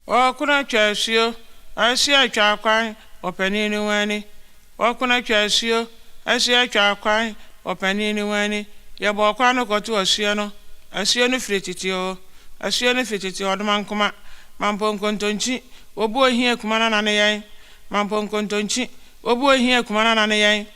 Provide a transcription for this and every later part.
Wɔkona twa asuo, asoa twa akwan, ɔpanin ne wɔn ani. Wɔkona twa asuo, asoa twa akwan, ɔpanin ne wɔn ani. Yɛbɔɔ kwan no kɔto asuo no, asuo no firi tete oo, asuo no firi tete ɔdomankoma, mampo nkontonkyi, wɔbu ohia kuma nana ne yɛn, mampo nkontonkyi, wɔbu ohia kuma nana ne yɛn.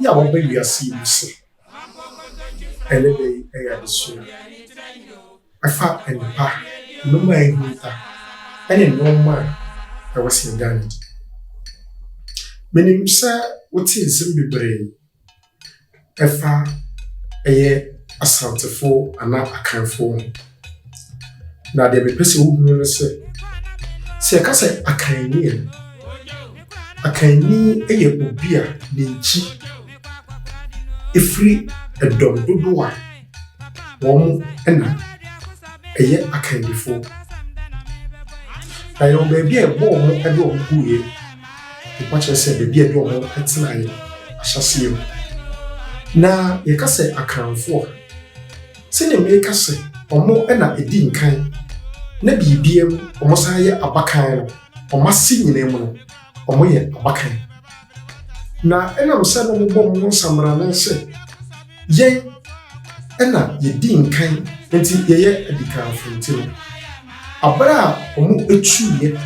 Yi a wɔaba wiase yi mu se, Ɛnnɛ da yi yɛ adesua a ɛfa nnepa, nnoɔma a ɛhunta ne nnoɔma a ɛwɔ sɛ yɛda no adi. Menim sɛ wote nsɛm bebree ɛfa ɛyɛ Asantefoɔ anaa Akanfoɔ ho. Na deɛ mepɛ sɛ wohunu no sɛ, sɛ yɛka sɛ akanni a, akanni yɛ obi a ne nkyi ɛfiri ɛdɔm dodoɔ a wɔn na ɛyɛ akannifoɔ. Na yɛwɔ baabi a ɛbɔ wɔn de wɔn guiɛ, mpa kyerɛ sɛ baabi a ɛde wɔn tenaeɛ ahyɛseɛ mu. Na yɛka sɛ akanfoɔ a, sɛdeɛ mereka sɛ ɔmo na ɛdi nkan na biribiara mu ɔmo san yɛ abakan no, ɔmo ase nyinaa mu no, ɔmo yɛ abakan. Na ɛnam sɛ na ɔmo bɔ ɔmo ho nsammrane sɛ yɛn na yɛdi nkan nti yɛyɛ adikanfo nti no, abere a ɔmo tuiɛ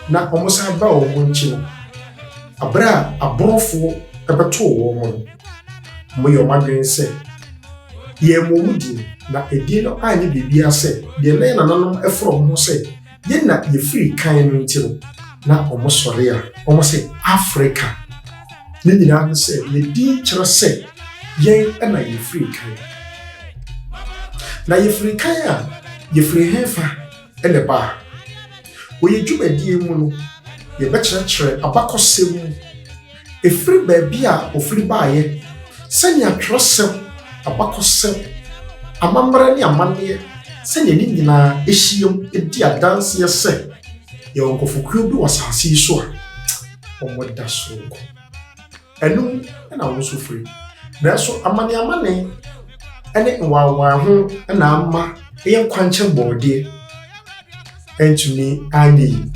na ɔmo san baa ɔmo nkyi no, abere a aborofoɔ bɛtoo ɔmo no, Moyɛ wɔn adwene sɛ, Yɛmmɔ wo din, na edin no anyɛ biribiara sɛ deɛ na yɛn nananom foro wɔn ho sɛ, Yɛn na yɛfiri kan no nti no, na wɔsɔre a, wɔse, Afrika. Ne nyinaa ne sɛ, yɛn din kyerɛ sɛ, Yɛn na yɛfiri kan. Na yɛfiri kan a, yɛfiri hefa na ɛbaa? Wɔ yɛn dwumadie mu no, yɛbɛkyerɛkyerɛ abakɔsɛm mu. Ɛfiri baabi a ɔfiri baeɛ, sɛnea twerɛsɛm, abakɔsɛm, amammerɛ ne amanneɛ, sɛnea ne nyinaa hyiam di adanseɛ sɛ yɛwɔ nkurɔfokuo bi wɔ asase yi so a wɔda soronko. Ɛno mu na wo nso firi. Nanso amaneamane ne nwanwaa ho na ama yɛn kwankyɛn bɔɔdeɛ. antumi anyɛ yi.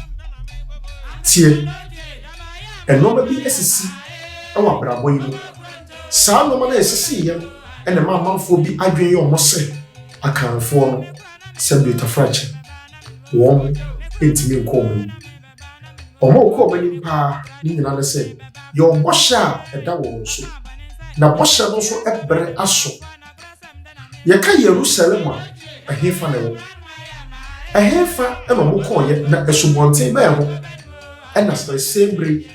Tie, nneɛma bi asisi wɔ abrabɔ yi mu. Saa nneɛma no a esisi yɛ no na ɛma amanfoɔ bi adwene yɛ wɔn sɛ akanfoɔ no sɛ dwetafrakye. Wɔn ntumi nkɔ wɔn anim. Wɔn a wɔkɔ wɔn anim paa ne nyinaa ne sɛ yɛwɔ bɔhyɛ a ɛda wɔn so, na bɔhyɛ no nso bere aso. Yɛka Yerusalem a, ɛhefa na ɛwɔ? Ɛhefa na wɔkɔɔyɛ na asubɔnten bɛn ho ɛna sɛsɛn bere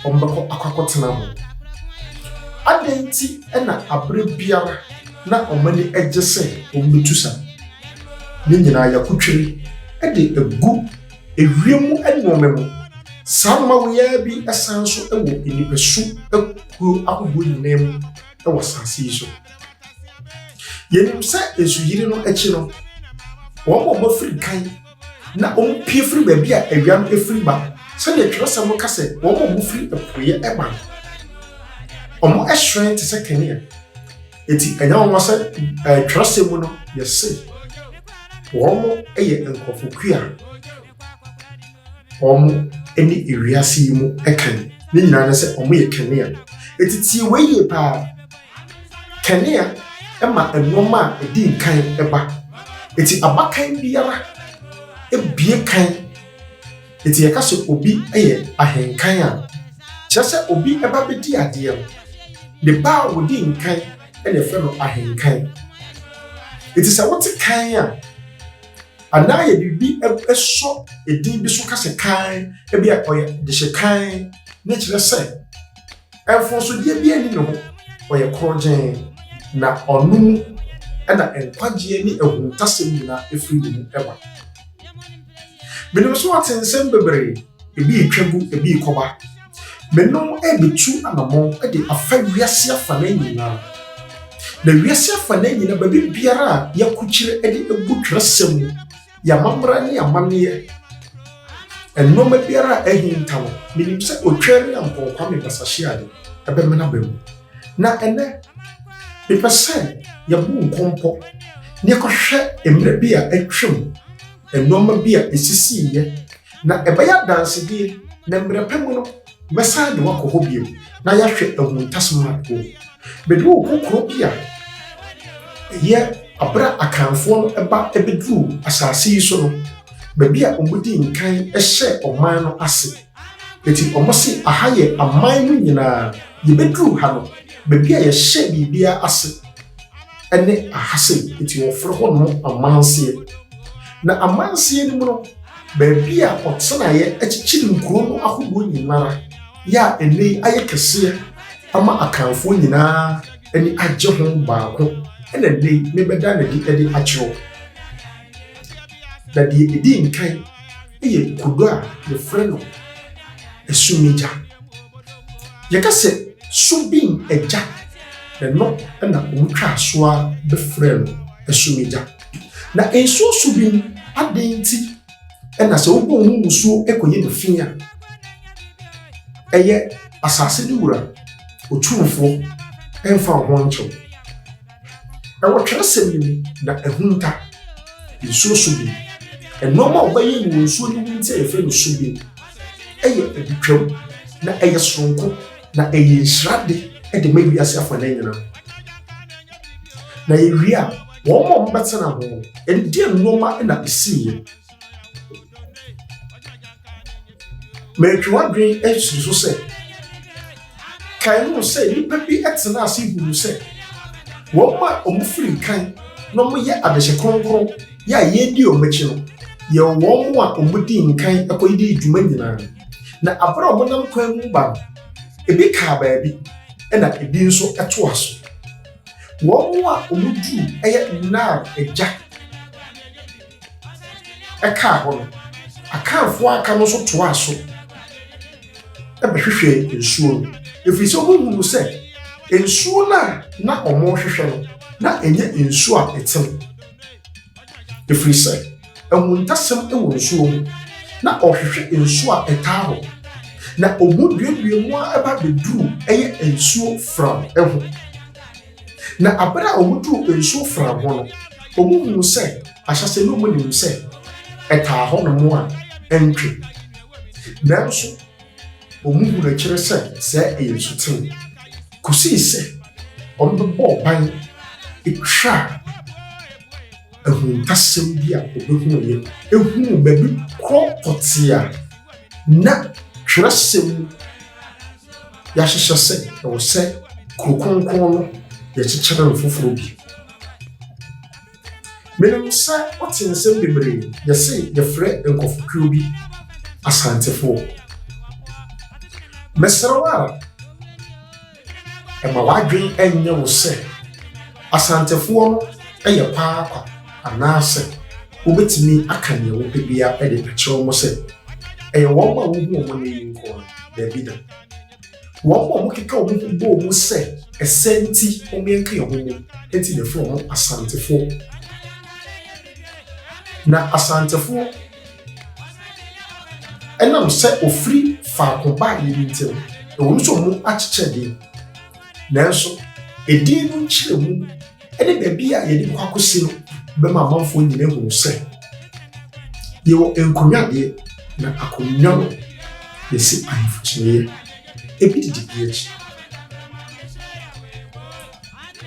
wɔbɛkɔ akɔakɔtena ho? Adɛn nti na abere biara na wɔn ani gye sɛ wɔbɛtu sa? Ne nyinaa yɛakotwere de agu ewiem mu nnoɔma mu. Saa nnoɔma woyɛɛ bi san nso wɔ nnipasu akuo ahodoɔ nyinaa mu. wɔ asase yi so. Yɛnim sɛ nsuyiri no akyi no, wɔn a wɔafiri kan na wɔpue firi baabi a awia no firi ba no, sɛdeɛ twerɛsɛm no ka sɛ wɔn a wɔfiri apueɛ ba no, wɔhyerɛn te sɛ kanea. Enti ɛnyɛ wɔn sɛ twerɛsɛm mu no yɛse wɔn yɛ nkurɔfo kua. wɔn ne wiase yi mu kan. Ne nyinaa ne sɛ wɔyɛ kanea. Eti tie wei yie paa. Kanea ma nneɛma a ɛdi nkan ba. Eti abakan biara ebie kan. Eti yɛka sɛ obi yɛ ahenkan a, kyerɛ sɛ obi ba bɛdi adeɛ no, ne ba a ɔdi nkan na yɛfrɛ no ahenkan. Eti sɛ wote kan a, anaa yɛde biribi sɔ edin bi so ka sɛ kann, ebi a ɔyɛ dehyɛ kann, ne kyerɛ sɛ mfonsodeɛ bi ani ne ho, ɔyɛ korɔgyeen, na ɔno mu na nkwagyeɛ ne ahuntasɛm nyinaa ɛfiri ne mu ɛba. Menim so ɔte nsɛm bebree, ebi retwa gu, ebi rekɔba. Menom rebetu anammɔn de afa wiase afanan nyinaa. Na wiase afanan nyinaa, baabi biara a yɛakukyire de agu twerɛsɛm mu, yɛn amammerɛ ne amanneɛ, nnoɔma biara a ahinta no, menim sɛ Otwaa Nyankɔn Kwame Basahyiade bɛmene aba mu. Na ɛnnɛ, mepɛ sɛ yɛbo nkɔmpɔ na yɛkɔhwɛ mmerɛ bi a atwam, nnoɔma bi a ɛsisiiɛ, Na ɛbɛyɛ adansedie, na mmerɛ pa mu no, mɛsan de wo akɔ hɔ bio, na yɛahwɛ ahuntasɛm a ɛwɔ mu. Mede wo rekɔ kuro bi a ɛyɛ aberɛ a Akanfoɔ no ba bɛduruu asase yi so no, baabi a wɔdii nkan hyɛɛ ɔman no ase. Enti wɔse, Aha yɛ aman no nyinaa. Yɛbɛduruu ha no, baabi a yɛhyɛɛ biribiara ase. ne ahase nti wɔfrɛ hɔ nom amanseɛ na amanseɛ no mu no baabi a ɔtenaeɛ akyikyiri nkuro no ahodoɔ nyinara yɛ a ɛnɛ yi ayɛ kɛseɛ ama akanfoɔ nyinaa ani agye ho baako ɛna ɛnɛ yi mebɛda n'adi de akyerɛw na deɛ ɛdi nkan yɛ kodo a yɛfrɛ no asumigya. Yɛka sɛ subin agya, ɛno na wɔtwaa so a bɛfrɛ no asumigya. Na nsuo subin adɛn nti na sɛ wobɔ mu nsuo kɔyi no fi a, ɛyɛ asase no wura, otumfoɔ, ɛmfa wo ho nkyew. Ɛwɔ twerɛsɛm no mu na ahunta, nsuo so bem, nnoɔma a wɔbɛyɛ no wɔ nsuo no mu nti a yɛfrɛ no so bem, ɛyɛ adutwam na ɛyɛ soronko na ɛyɛ nhyira de de ma wiase afa no nyinaa. Na yɛwie a, wɔn a wɔbɛtena ho no, ɛdeɛ nnoɔma na ɛsiiɛ? mantwi w'adwene asiri so sɛ kae ho sɛ nnipa bi tena ase hunu sɛ wɔn a wɔfiri nkan na wɔyɛ adehye kronkron yɛ a yɛredi wɔn akyi no yɛ wɔn mu a wɔdi nkan kɔyɛdi dwuma nyinaa na abere a wɔnam kwan mu ba no ebi kaa baabi na ebi nso toa so wɔn a wɔduru yɛ nnar agya ɛkaa hɔ no, Akanfoɔ a aka no nso toaa so bɛhwehwɛɛ nsuo no, ɛfiri sɛ wɔhunuu sɛ nsuo no a na wɔrehwehwɛ no, na ɛnyɛ nsuo a ɛtene. Ɛfiri sɛ ahuntasɛm wɔ nsuo mu, na ɔhwehwɛ nsuo a ɛtaa hɔ, na ɔmu duadua mu a ɛba bɛduru ɛyɛ nsuo fram ho. Na aber a wɔduu nsu afora ho no, wɔhun sɛ ahyɛse no munnum sɛ ɛtaa hɔnom a ɛntwe. Nanso wɔhun akyiri sɛ sɛɛ ɛyɛ nsuten, kosii sɛ wɔbɛbɔɔ ban twaa ahuntasɛm bi a wɔbehuuiɛ huu baabi korɔ pɔtee a na twerɛsɛm mu. yɛahyehyɛ sɛ ɛwɔ sɛ kuro kronkron no yɛkyekyere no foforɔ bi. Menim sɛ wote nsɛm bebree yɛse yɛfrɛ nkɔfokuo bi Asantefoɔ. Mesrɛ wo ara, ɛma w'adwene ɛnyɛ wo sɛ Asantefoɔ no yɛ kwaakwa. Anaasɛ wobɛtumi aka deɛ wopɛ biara de akyerɛ wɔn sɛ, Ɛyɛ wɔn a wohu wɔn nnɛ yi nko no? Dabi da. Wɔn a wɔkeka wɔn ho bɔ mu sɛ ɛsɛ nti wɔn yɛn ka yɛn ho mu nti na ɛfrɛ wɔn Asantefoɔ. Na Asantefoɔ ɛnam sɛ ofiri faako baa yɛn nti no, ɛwɔ mu sɛ wɔn akyekyɛ din. Nanso, edin no nkyerɛmu ne baabi a yɛde bɛkɔ akɔsi no bɛma amanfoɔ nyina ahunu sɛ yɛwɔ nkonnwadeɛ na akonnwa no yɛsi ahemfo kyiniiɛ ebi didi bi akyi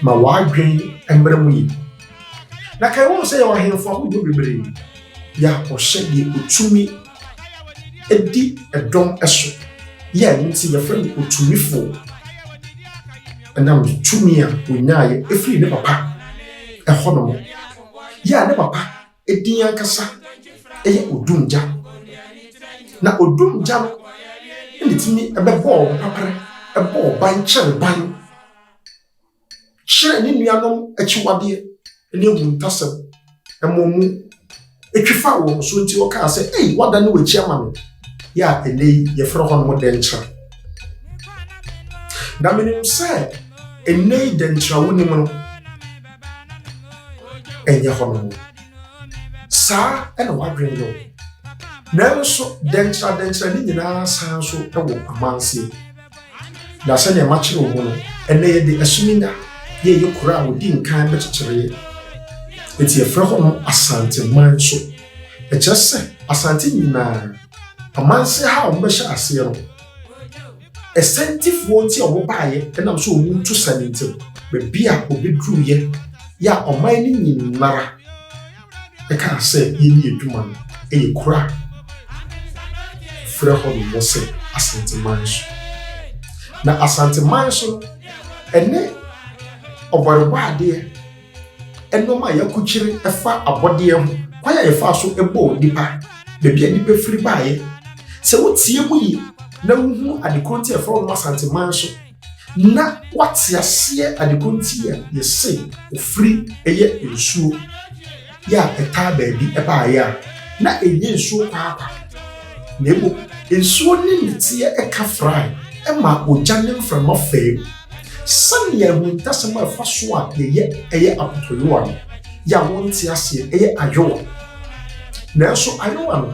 ma w'adwen mmerɛ mu yi na ka ɛwɔ sɛ yɛwɔ ahemfo ahodoɔ bebree yɛ akɔhyɛ deɛ ɔtumi ɛdi ɛdɔm ɛso yɛ a ɛno nti yɛfrɛ no otumifoɔ ɛnam ne tumi a ɔnyaayɛ ɛfiri ne papa ɛhɔ nom yɛ a ne papa ɛdin ankasa ɛyɛ odumgya na odumgya no ɛna tumi ɛbɛbɔɔ ɔpaprɛ ɛbɔɔ ban kyɛre ban kyerɛɛ ne nuanom akyiwadeɛ ne ahuntasɛm, ɛmaa wɔn twi faa wɔn so nti wɔkaa sɛ, Ei, woadane w'akyi ama me, yɛ a ɛnnɛ yi yɛfrɛ hɔnom Dɛnkyira. Na menim sɛ ɛnnɛ yi Dɛnkyira wonim no ɛnyɛ hɔnom. Saa na w'adwene yɛ wo. Nanso Dɛnkyira Dɛnkyira ne nyinaa san so wɔ amanseɛ. Na sɛnea makyerɛw mu no, ɛnnɛ yɛde Asuminya yɛ yɛn kurow a odi nkan no kyekyeree. Enti yɛfrɛ hɔ no Asanteman nso. Ɛkyerɛ sɛ Asante nyinaa, amanse ha a wɔbɛhyɛ aseɛ no, Asantefoɔ nti a wɔbaeɛ ɛnam sɛ wɔn tu sane nti no, baabi a wɔbɛduruiɛ yɛ a ɔman no nyinara ɛkaa sɛ yɛnni adwuma no yɛ kuro a frɛ hɔ nom wɔ sɛ asanteman so na asanteman so no ɛne ɔbɔrebɔ adeɛ nneɛma a yɛakokyere ɛfa abɔdeɛ ho kwan a yɛfa so bɔɔ nnipa baabi a nnipa firi baeɛ sɛ wotie mu yie na wohunu adekoro nti ɛfrɛ wɔn asanteman so na wate aseɛ adeko nti a yɛse ofiri yɛ nsuo yɛ a ɛtaa baabi baeɛ a na ɛnyɛ nsuo kwaakwa na mmom nsuo ne nneteɛ ɛka frae ɛma ogya ne mframa fam sɛnea ahuntasɛm a ɛfa so a yɛyɛ ɛyɛ akotoyowa no yɛ a wɔnte aseɛ ɛyɛ ayowa nanso ayowa no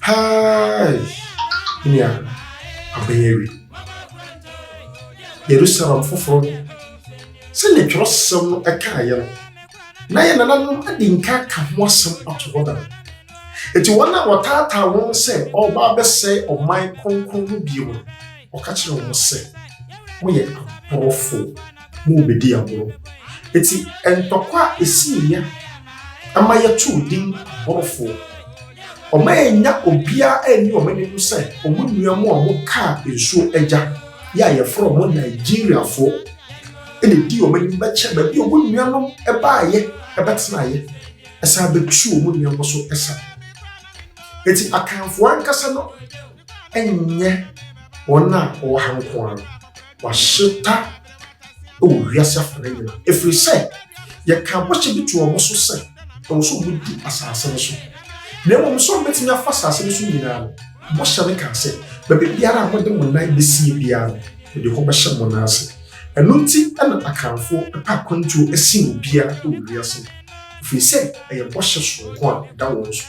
Hai! Me nua, abɛn awi. Yerusalem foforo. Sɛnea twerɛsɛm no kaeɛ no, na yɛn nananom adi nka ka ho asɛm ato hɔ dada. Enti wɔn a wɔtaataa wɔn sɛ ɔreba abɛsɛe ɔman kronkron no bio no, wɔka kyerɛ wɔn sɛ, Moyɛ aborɔfo. ma obedii agorɔ. Enti ntɔkwa a esii ya ama yɛtoo din Borofoɔ. Wɔannya obiara anni wɔn ani ho sɛ wɔn nua mu a wɔkaa nsuo agya yɛ a yɛfrɛ wɔn Nigeriafoɔ na ɛdii wɔn anim bɛkyɛ baabi a wɔn nuanom baeɛ bɛtenaeɛ ɛsan bɛtu wɔn nua no so sa. Enti Akanfoɔ ankasa no nyɛ wɔn a wɔwɔ ha nko ara. wɔahyeta wɔ wiase afa no nyinaa, ɛfiri sɛ yɛkaa bɔhyɛ bi too wɔn so sɛ ɛwɔ sɛ wɔdi asase no so, na mmom sɛ wɔbɛtumi afa asase no so nyinaa no, bɔhyɛ no kaa sɛ, baabi biara a mode mo nan bɛsie biara no, mede hɔ bɛhyɛ mo nan ase. Ɛno nti na Akanfoɔ pɛ akwantuo sen obiara wɔ wiase, ɛfiri sɛ ɛyɛ bɔhyɛ soronko a ɛda wɔn so.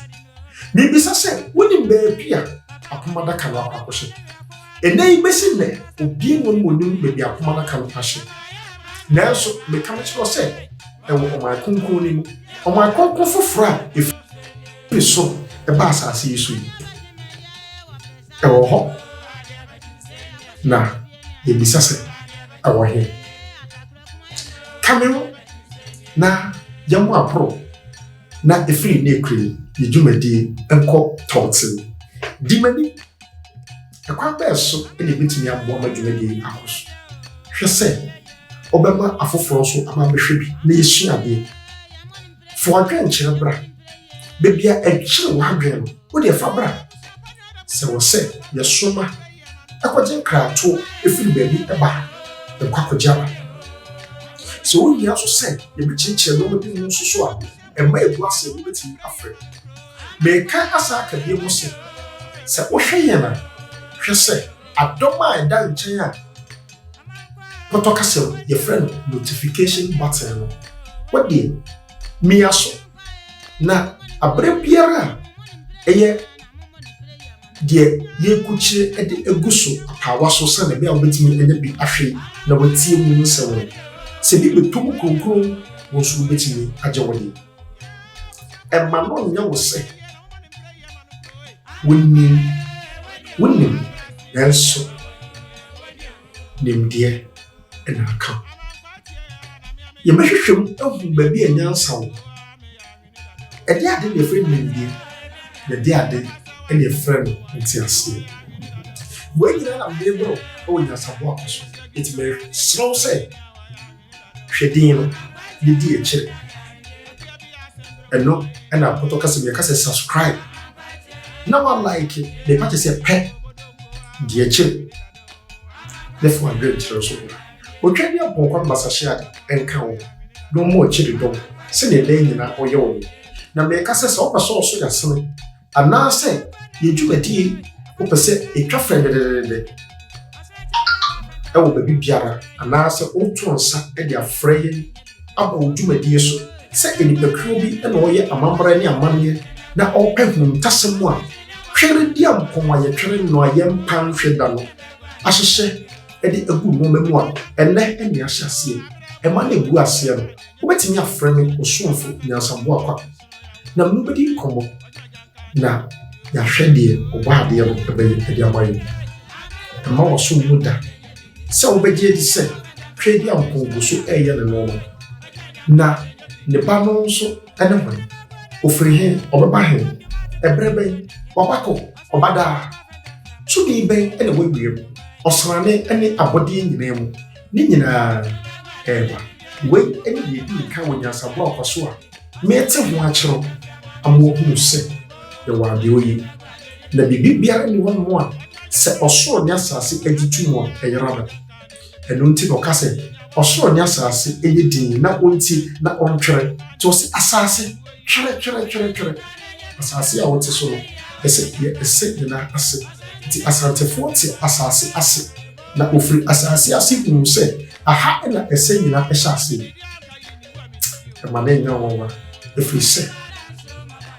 Mibisa sɛ wonim baabi a apam adaka no akɔ akɔhyɛ? Ɛnnɛ yi besi nnɛ, obiara nni hɔ ma onim baabi a apam adaka no ahyɛ. Nanso meka mekyerɛ wo sɛ, ɛwɔ ɔman kronkron no mu, ɔman kronkron foforo a efi ne soro ba asase yi so yi. Ɛwɔ hɔ. Na yebisa sɛ, ɛwɔ he? Ka me ho na yɛmmɔ aporow. Na ɛfiri ne kure yi dwumadie nkɔ tɔɔten. Di m'ani. Ɛkwan bɛɛ so na yɛbɛtumi aboa ma dwumadie yi akɔ so? Hwɛ sɛ wobɛma afoforɔ nso aba abɛhwɛ bi na yɛasua adeɛ. Fa w'adwenkyerɛ bra. Baabi a ɛkyere w'adwene no, wo deɛ fa bra. Sɛ ɛwɔ sɛ yɛsoma. kɔgye nkratoɔ firi baabi ba ha, yɛkɔ akɔgye aba. Sɛ ohia nso sɛ yɛbɛkyekyɛ nneɛma bi mu nso so a, ɛma ebu ase a wobɛtumi afrɛ. Meka asa aka bio mu sɛ, sɛ wohwɛ yɛn a, hwɛ sɛ adɔm a ɛda nkyɛn a pɔtɔ kasa mu yɛfrɛ no notification button no, wodeɛ mia so. Na abere biara a ɛyɛ deɛ yɛrekukyire de agu so apaawa so sɛdeɛ ɛbɛyɛ a wobɛtumi anya bi ahwe na watie mu nsɛm no. Sɛ bi bɛtɔ mu kronkron, wo nso wobɛtumi agye wo deɛ. Ɛma no nyɛ wo sɛ wonim wonim nanso nimdeɛ na aka. Yɛbɛhwehwɛ mu ahu baabi a nyansa wɔ. Ɛde ade na ɛfrɛ no nimdeɛ, na ɛde ade na ɛfrɛ no nteaseɛ. Wei nyinaa na mede brɛ wo wɔ nyansabɔ a wɔ so. Enti mesrɛ wo sɛ, hwɛ din no, na di akyire. Ɛno na mpɔtɔ kasa mu yɛka sɛ subscribe. Na wa like ne page sɛ pɛ, di akyire, na fa w'adwenkyerɛ nso bra. Otwa ne abɔnkɔr basahyeadze nka wo, na ɔma ɔkye ne dɔm sɛdeɛ daa nyina ɔyɛ wo no. Na meeka sɛ, sɛ wopɛ sɛ ɔso yasene, anaasɛ yɛ dwumadie wopɛ sɛ ɛtwa fɛn dededede wɔ baabi biara, anaasɛ woto nsa de afrɛ yɛn aba wo dwumadie so sɛ nnipakuo bi na ɔreyɛ amammerɛ ne amanneɛ na ɔrepɛ huntasɛm a, twere deɛ mpɔn a yɛtwere no a yɛmpa nhwe da no ahyehyɛ de agu nneɛma mu a, ɛnnɛ nea ahyɛ aseɛ ɛma no agu aseɛ no, wobɛtumi afrɛ me ɔsomfo nyansaboa kwa na me wobɛdi nkɔmmɔ na yɛahwɛ deɛ ɔbɔ adeɛ no ɛbɛyɛ de ama yɛn. Ɛma wasom mu da sɛ wobɛgye adi sɛ Tweaduampɔn gu so ɛreyɛ ne nneɛma. Na ne ba no nso ne hwan? Ɔfiri he? Ɔbɛba he? Ɛberɛ bɛn? Wabakɔ? Ɔbadaa, tumi bɛn na ɛwɔ ewiem, ɔsrane ne abɔdeɛ nyinaa mu? Ne nyinaa ɛreba. Wei ne deɛ ɛdi nkan wɔ nyansaboa ɔkwa so a merete ho akyerɛw ama wɔahunu sɛ yɛwɔ adeɛ oye. Na biribi biara nni hɔnom a sɛ ɔsoro ne asase agye to mu a ɛyera da. Ɛno nti na ɔka sɛ, Ɔsoro ne asase yɛ dinn na wontie na wɔntwɛre. Nti ɔse, Asase, twɛre, twɛre, twɛre, twɛre. Asase a wote so no, ɛsɛ yɛ ɛsɛ ne nan ase. Nti Asantefoɔ te asase ase, na wɔfiri asase ase hunuu sɛ aha na ɛsɛ nyina hyɛ aseɛ. Ɛma no nyɛ nwanwa, ɛfiri sɛ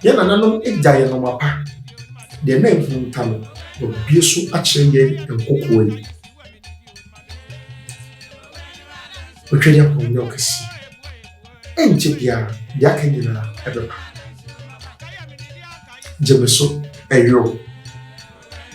yɛn nananom gya yɛn nɔma pa, deɛ na ahunta no, wɔabue so akyerɛ yɛn nkokoɔ yi. wotwa yɛ kɔn ne ɔkɛse ɛnkyɛ biara deɛ aka nyinaa ɛbɛba gye me so ɛyoro